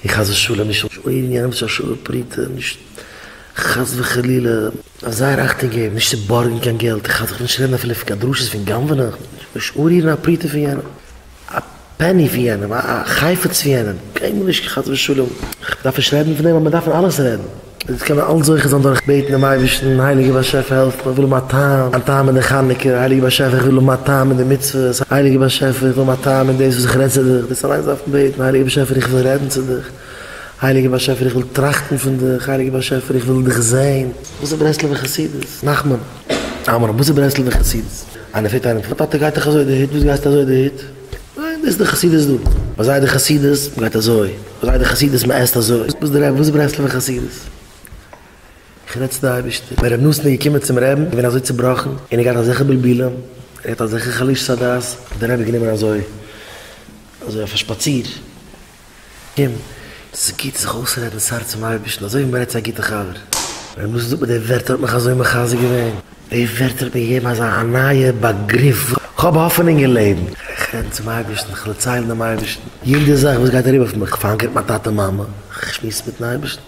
איך חס ושלום נישט אויב יענער האט נישט א שווה פרוטה נישט חס וחלילה זייער אכטונג געבן נישט צו בארגן קיין געלט איך חס וחלילה נישט רעדן אפילו פון קיין דרשות פון גנב'נען נישט אנרירן א פרוטה פון יענעם א פעני פון יענעם א חפץ פון יענעם קיינמאל נישט חס ושלום איך דארף נישט רעדן פון דעם אבער מען דארף פון אלעס רעדן. אונז קענען אלץ זוכה זיין דורך בעטן דעם אייבערשטן, הייליגער באשעפער העלף מיר, איך וויל האבן א טעם, א טעם אין די חנוכה, הייליגער באשעפער איך וויל האבן א טעם אין די מצוות, הייליגער באשעפער איך וויל האבן א טעם אין דאס וואס איך רעד צו דיך, דאס אליינס דארף מען בעטן, הייליגער באשעפער איך וויל רעדן צו דיך, הייליגער באשעפער איך וויל טראכטן פון דיך, הייליגער באשעפער איך וויל דיך זען. וואס איז ברסלב'ע חסידות? נחמן. עמרם, וואס איז ברסלב'ע חסידות? איינער פרעגט איינעם, טאטע גייט דאך אזוי די היט, וואס גייסטו אזוי די היט? ניין דאס איז די חסידות דא. ביי זיי די חסידות מען גייט אזוי, ביי זיי די חסידות מען עסט אזוי, וואס איז די רעבע? וואס איז ברסלב'ע חסידות? איך רעד צו די אייבערשטער. ווען רבי נתן איז געקומען צום רעבן איז געווען אזוי צובראכן און ער געהאט אזעלכע בלבולים ער געהאט אזעלכע חלישות הדעת האט די רעבע גענומען אזוי אזוי אויף א שפאציר. אים, ס'איז גוט זיך אויסרעדן ס'הארץ צום אייבערשטן אזוי ווי מ'רעדט צו א גוטע חבר. ווען מוזס זאגט מיר די ווערטער האט מיך אזוי מחזק געווען. די ווערטער האט מיר געגעבן אזא א נייע באגריף וואס כ'האב האפענונג אין לעבן. איך רעדן צום אייבערשטן, כ'דערצייל דעם אייבערשטן יעדע זאך וואס גייט אריבער אויף מיך, כ'פאנקער מיט מיין טאטע מאמע, כ'שמועס מיטן אייבערשטן.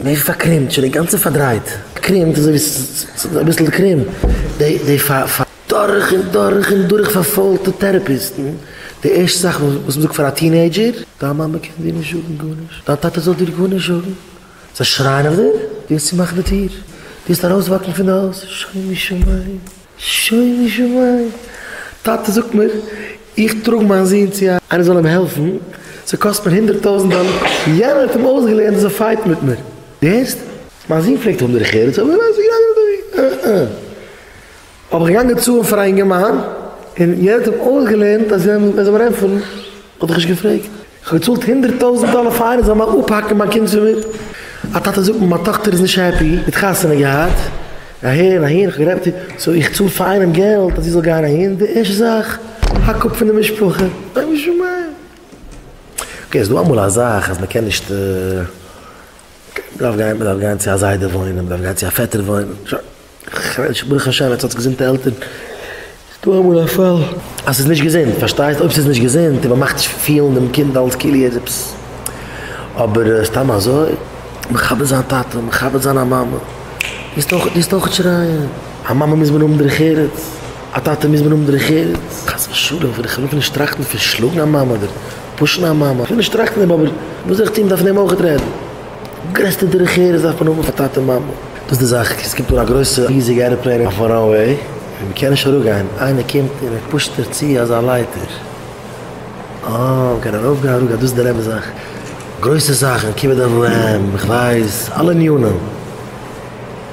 מער פארקרימט שוין אינגאנצן פארדרייט קרימט אזוי ווי ס'איז אביסל קרום די פאר. דורך און דורך און דורך פארפוילטע טערעפיסטן די ערשטע זאך וואס מ'זאגט פאר א טינעידזשער דיין מאמע קען דיר נישט זאגן גארנישט דיין טאטע זאל דיר גארנישט זאגן זיי שרייען אויף דיר די האסט צומאכן די טיר די האסט ארויסוואקן פון די הויז שומו שמים. שוין געשוואוין. טאטע זאגט מיר איך טראג מיין זון צו א. איינער זאל אים העלפן, ס'קאסט מיר הונדערט טויזנט דאלער. יענער האט אים אויסגעלערנט אז ער פייט מיט מיר. דו הערסט? מיין זון פלעגט האבן דרך ארץ אבער ווייסט איך געדענק נישט דער וויכטיג. אה אה. האב איך געגאנגען צאלן פאר א אינגערמאן און יענער האט אים אויסגעלערנט אז ער זאל מיר ענטפערן. האט איך נישט געפרעגט. כ'האב געצאלט הונדערט טויזענט דאלער פאר איינער זאל מיך אפהאקן מיין קינד פון מיר. א טאטע זאגט מיר מיין טאכטער איז נישט העפי, זי האט חתונה געהאט, אהין אהין, כ'האב גערעדט מיט איר, סאו איך צאל פאר איינעם געלט אז זי זאל גיין אהין, די ערשטע זאך, האק אפ פון די משפחה. שוין שומעים. אקעי, איז דא אמאל א זאך אז מ'קען נישט, מ'דארף גיין, מ'דארף גיין צו א זיידע וואוינען, מ'דארף גיין צו א פעטער וואוינען, שוין. כ'וואונטש ברוך השי ת האטס געזונטע עלטערן. ס'איז דא אמאל א פאל אז ס'איז נישט געזונט, פארשטייסט? אויב ס'איז נישט געזונט און מען מאכט נישט פילן דעם קינד אלס כאילו ער איז עפעס. אבער סתם אזוי מכבד זיין טאטע, מכבד זיין א מאמע, מוזט אויך מוזט אויך שרייען. א מאמע מוז מען האבן דרך ארץ, א טאטע מוז מען האבן דרך ארץ. חס ושלום, איך וויל נישט טראכטן פון שלאגן א מאמע אדער פושן א מאמע, איך וויל נישט טראכטן דעם, אבער וואס זאל איך טון, מען דארף מיט אים אויך רעדן. גרעסטע דרך ארץ דארף מען האבן פאר טאטע מאמע. דאס די זאך, עס קומט אן א גרויסע ריזיגע עראפלעין אויפן ראנוועי, און מען קען נישט אראפגיין, איינער קומט און ער פושט דיר צו אזא לייטער, אה, מען קען ארויפגיין אראפגיין, דאס איז דער אמת זאך, גרויסע זאכן, כיבוד אב ואם, איך ווייס, אלע עניינים.